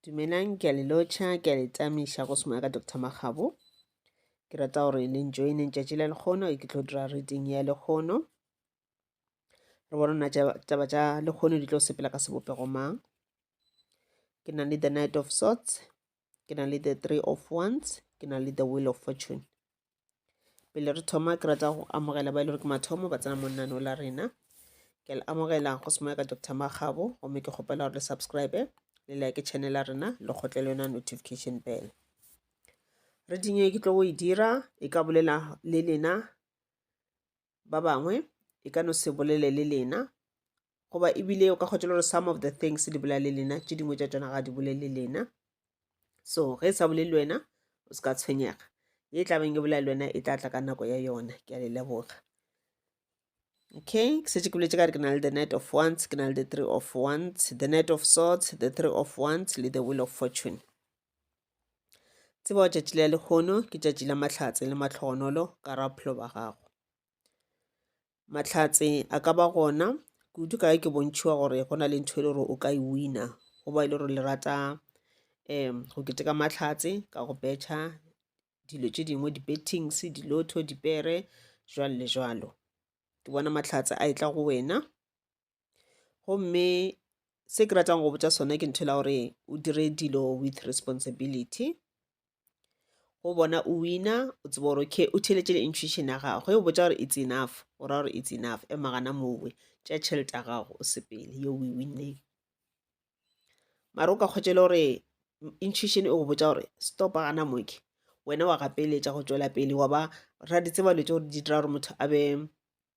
dumelang ke a le lotšha ke a le tamiša go sengwe ka dr magabo ke rata gore le njoine tšatši la lekgono ke tlo dira reading ya lekgono re bona na taba tša lekgono di tlo sepela ka sebopego mang ke na le the night of sorts ke na le the three of ones ke na le the will of fortune pele re thoma ke rata go amogela ba e le gore ke mathomo ba tsena monnano la rena ke le amogela go se moya ka dr magabo gomme ke kgopela gore le subscribe le like channel ya rena le kgotle le yona notification bell re dinye ke tlo go e dira e ka bolela le lena ba bangwe e ka no se bolele le lena goba ebile o ka kgwetša le gore some of the things di bolela le lena tše dingwe tša tšona ga di bolele lena so ge e sa bolele wena o se ka tshwenyega ye e tlabeng e bolela le wena e tla tla ka nako ya yona ke a le leboga okay ke setse ke boletse ka re ke na le the night of once ke na le the three of once the night of sorts the three of once le the will of fortune tseba tšatši la lekgono ke tšatši la mahlatse le matlhogonolo ka ra bophelo ba gago Mahlatse a ka ba gona kudu ka ge ke bontšhiwa gore go na le ntho e le gore o ka e wina go ba e le gore le rata um go keteka mahlatse ka go betšha dilo tše dingwe di-bettings dilotho dipere jwalo le jwalo ke bona mahlatse a e tla go wena gomme se ke ratang go botša sone ke ntho la gore o dire dilo with responsibility go bona o wina o tseba gore okay o theletše le intuition ya gagwe o botša gore it's enough o ra gore it's enough e magana mowe tša tšhelete ya gago o sepele yo we winneng mara o ka kgwetše le gore intuition e go botša gore stop gana moke wena wa gapeletša go tšwela pele wa ba ra di tseba lo tse gore di dira gore motho a be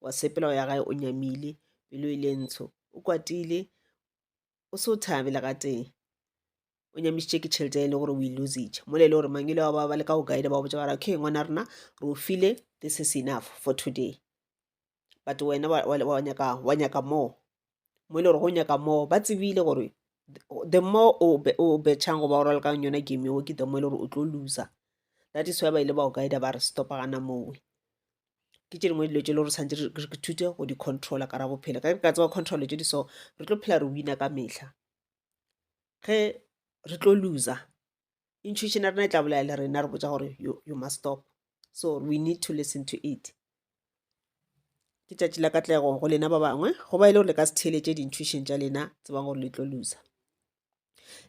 wa sepela ya gae o nyamile pelo e le ntsho o kwatile o se o thabe le gatee o nyamišitše ke tšhelete e le gore o e lositše mo le e le gore mangele wa ba ba le ka go guide ba go botsa bara okay ngwana rena re o file this is enough for today but wena wa nyaka wa nyaka more mo e le gore go nyaka more ba tsebile gore the more o betšhang goba o ralokang yona game eo ke the more e le gore o tlo loser that is why ba ile ba o guida ba re stopa gana mowe ke tše dingwe dilo tše le gore tshwanetse re thute go di-controller ka ra bophelo ka ka tseba control tše di so re tlo phela re wina ka mehla ge re tlo loser intuition ya rena e tla bolaya le rena re botsa gore you, you must stop so we need to listen to it ke tšatši la katlego go lena ba bangwe go ba e le gore le ka se theeletše di-intuition tša lena tsebang gore le tlo loser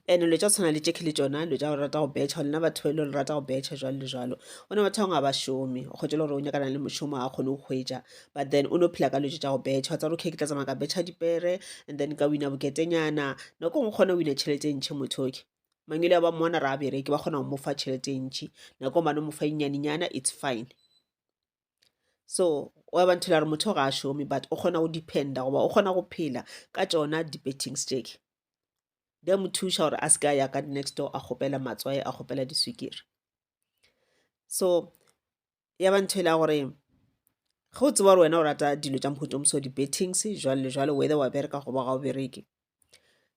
and lo tša tshwana le tšekhe le tšona lo tša go rata go betšha lena batho ba ile le rata go betšha jalo le jalo o ne batho bangwe ga ba šome o kgwetše le gore o nyakana le mošomo ga kgone go hwetša but then o ne o phela ka lotše tša go betšha tsa okay ke tla tsamaya ka betšha dipere and then ka wina boketenyana nako ngwe kgone o wina tšhelete e ntšhe motho oke mangwele a ba mmona re a bereke ba kgona go mo fa tšhelete e ntšhi nako mane mo fa inyanenyana it's fine so wa ba nthela gore motho ga a šome but o kgona go dependa goba o kgona go phela ka tšona di-betting stick di a mo thuša gore a se ka ya ka next door a kgopela matswae a kgopela diswikiri so ya ba ntho e la gore ge o tseba gore wena o rata dilo tša mohuta moso di-bettings jwale le jwale whether wa bereka goba ga o bereke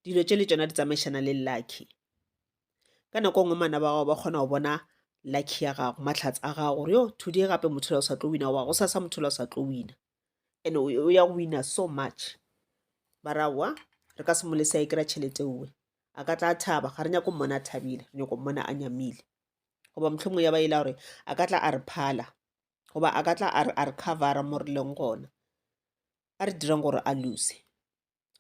dilo tše le tsona di tsamaišana le lucky ka nako nngwe mana ba gago ba kgona go bona lucky ya gago matlhatsi a gago gore yo today gape motho la o sa tlo wina goba go sa sa motho la o sa tlo wina and o ya go wina so much ba ra wa re ka se mo lesa e kry-a tšhelete uwe a ka tla thaba ga re nyako mmona a thabile re nyako mmona a nyamile goba mohlomong ya ba e la gore a ka tla a re phala goba a ka tla a re a re covera mo re leng gona a re dirang gore a lose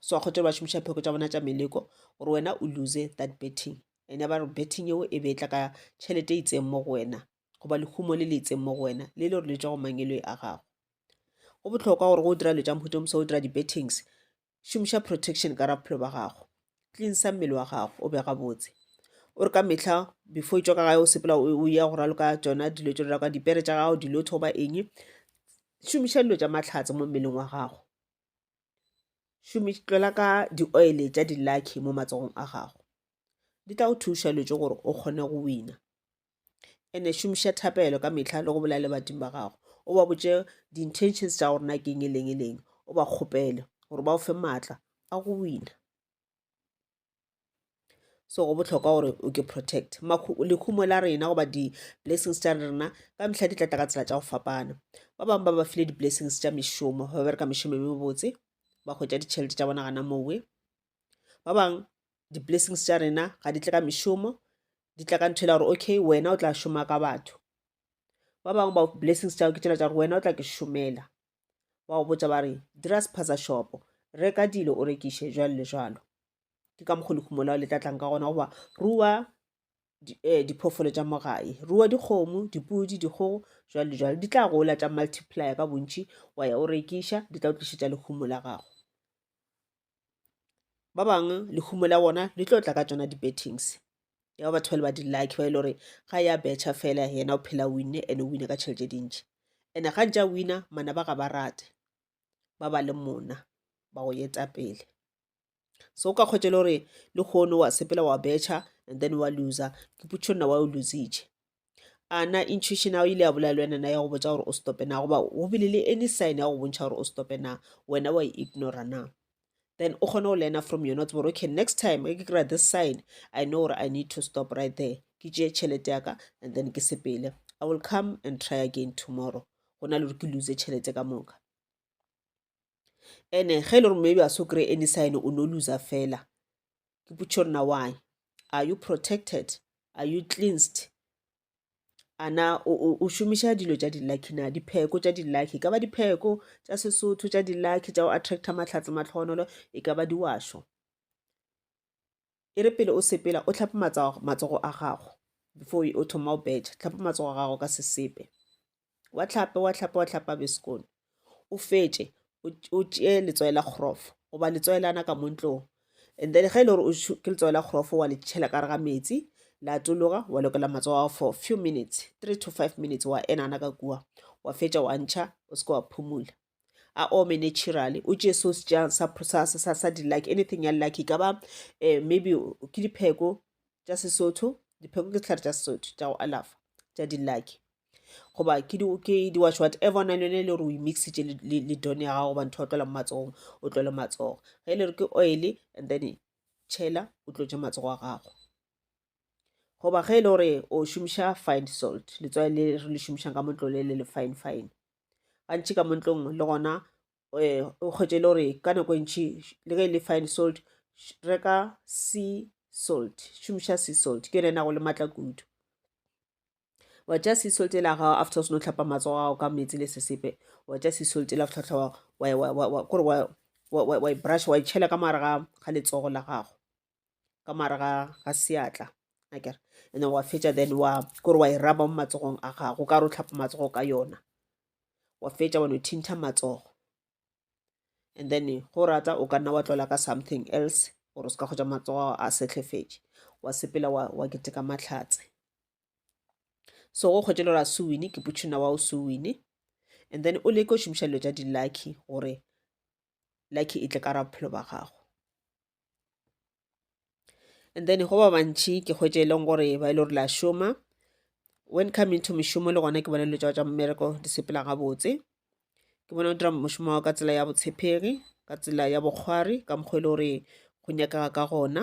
so a kgothe ba šomiša pheko tša bona tša meleko gore wena o lose that betting and ya ba re betting eo e be e tla ka tšhelete e itseng mo go wena goba lehumo le le itseng mo go wena le le gore le tswa go mangelo a gago go botlhokwa gore go dira dilo tša mohuta o mosa o dira di-bettings šomiša protection ka raphelo ba gago cleansa mmele wa gago o be gabotse o re ka mehla before e tšwa ka gae o sepela o ya go raloka tsona dilo tšo raloka dipere tša gago dilo thoba eng šomiša dilo tša matlhatse mo mmeleng wa gago tlola ka di-oile tša di-lucky mo matsogong a gago di tla go thuša dilo tše gore o kgone go wina ene šomiša thapelo ka mehla le go bolela le badimo ba gago o ba botše di-intentions tša gore na keng e leng e leng o ba kgopele gore ba o fe maatla a go wina so go botlhokwa gore o ke protect lehumo la rena goba di-blessings tša rena ka mehla di tla tla ka tsela tša go fapana ba bangwe ba ba file di-blessings tša mešomo ba bereka mešomo e mebotse ba hwetša ditšhelete tša bona gana mowe ba bangwe di-blessings tša rena ga di tle ka mešomo di tla ka ntho e la gore okay wena o tla šoma ka batho ba bangwe ba blessings tšago ke tšela tša gore wena o tla ke šomela ba go botsa ba re dira sephatsa shopo reka dilo o rekiše jwalo le jwalo ke ka mokgwa lehumo lao le tla tlang ka gona goba rua eh, diphoofolo tša mogae rua dikgomo dipudi dikgogo jwalo le jwalo di tla gola tša multiplier ka bontši wa ya o rekiša di tla o tlišetša lehumo la gago ba bangwe lehumo la bona le tlo tla ka tsona di-bettings ya ba batho ba le ba di-lucky ba e le gore ga ya betšha fela yena o phela winne and o wine ka tšhelete dintšhi and-e ga ntse a wina mana ba ga ba rate ba ba le mona ba go yeta pele so o ka kgwetsa le gore le kgono wa sepela wa betšha and then wa loser ke putšho nna wa o lositše a na intuition ya go ile ya bolela le wena na ya go botsa gore o stope na goba go bile le any sign ya go bontšha gore o stope na wena wa e ignora na then o kgone go learner from yona tsebore okay next time ke kry-a this sign i know gore i need to stop right there ke tšee tšhelete yaka and then ke sepele i will come and try again tomorrow go na le gore ke lose tšhelete ka moka ene ge e le gore maybe a so kry any sign o no loser fela ke potšo nna why are you protected are you cleansed ana o šomiša dilo tša di-lucky na dipheko tša di-lucky e ka ba dipheko tša sesotho tša di-lucky tša go attracta mahlatse matlhogonolo e ka ba diwašo E re pele o sepela, o hlape matsogo a gago before o thoma o betšha. Hlapa matsogo a gago ka sesepe. Wa hlapa, wa hlapa, wa hlapa be sekono. O fetše, o tšee letswai la kgrofo goba letswai lana ka mo ntlong. And then ge e le gore ke letswai la kgrofo wa le tšhela ka gare ga metsi, la atologa, wa lokela matsogo a gago for few minutes, three to five minutes, wa enana ka kua. Wa fetša wa ntšha, o seke wa phumula. a ome naturally o tšee so sejang sa, sa, sa, sa di-lucky anything ya lucky e ka ba um maybe ke dipheko tša sesotho dipheko ke sehlare tša sesotho tša go alafa tša di-lucky goba ke di ke di watch whatever o na le yone e le gore o imixitše le don ya gago goba ntho ya tlola mo matsogong o tlole matsogo ge e le gore ke oil and then tšhela o tlotše matsogo a gago goba ge e le gore o šomiša fine salt letswai le re le šomišang ka motlole le le fine fine gantši ka mo ntlong le gona um o kgwetše le gore ka nako e ntšhi le ge e le fine salt reka sea salt šomiša sea salt ke yone e nago le maatla kudu wa tša sea salt ele gago after o seno tlhapa matsogo gago ka metsi le sesepe wa tša sea salt ele after tlhaba kore wa e brush wa e tšhela ka mogare ga letsogo la gago ka mare ga ga seatla akere and then wa fetša then wa kore wa e raba mo matsogong a gago ka re o tlhapa matsogo ka yona wa fetša wa no thinta matsogo and then go rata o ka nna wa tlola ka something else gore o se ka kgotsa matsogo a setlhefetše wa sepela wa, wa keteka matlhatse so go kgwetše le gore a se wine ke putšhina wa o se wine and then o leke o šomiša dilo tša di-lucky gore lucky e tle ka ra bophelo ba gago and then go ba bantšhi ke kgwetše e leng gore ba e le gore la šoma when coming to mešomo le gona ke bona dilo tsa tsa mmereko di sepela gabotse ke bona o dira mošomo wa ka tsela ya botshepegi ka tsela ya bokgwari ka mokgwa e le gore go nyakega ka gona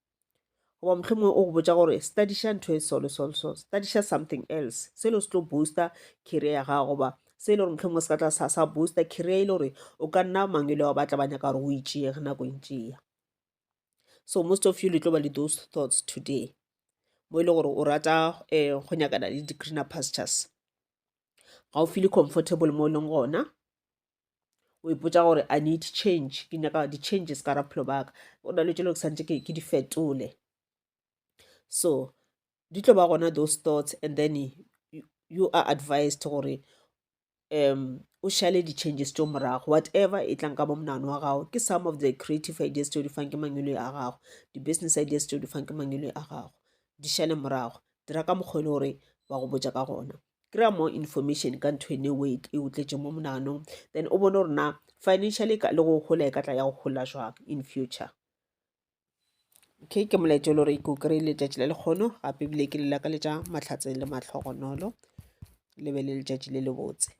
goba mohlomongwe o go botša gore studiša ntho e solo solo solo studiša something else se e le se tlo booster career ya gago goba se e le gore mohlomongwe se ka tla sa sa booster career e le gore o ka nna mang e le wa batla ba nyaka gore o itšee ge nako e ntše ya so most of you le tlo ba le those thoughts today mo e le gore o rata um go nyakana le di-greener pastures ga o feele comfortable mo e leng gona o ipotsa gore i need change ke nyaka di-changes ka raphelo baka o na le tšelo ke santse ke di fetole so di tlo ba gona those thoughts and then you are advised gore um o šale di-changes tso morago whatever e tlang ka mo monano wa gago ke some of the creative ideas tse o di fang ke mangwele a gago di-business ideas tse o di fang ke mangwele a gago di šale morago dira ka mokgwa e le gore ba go botja ka gona kry-a more information ka ntho ene way e o tletše mo monaganong then o bone gore na financially le go gola e ka tla ya go gola jwang in future okay ke molaetša le gore ke o kry-e letšatši la lekgono gape ebile ke le lakaletša matlhatseng le mahlogonolo le be le letšatši le lebotse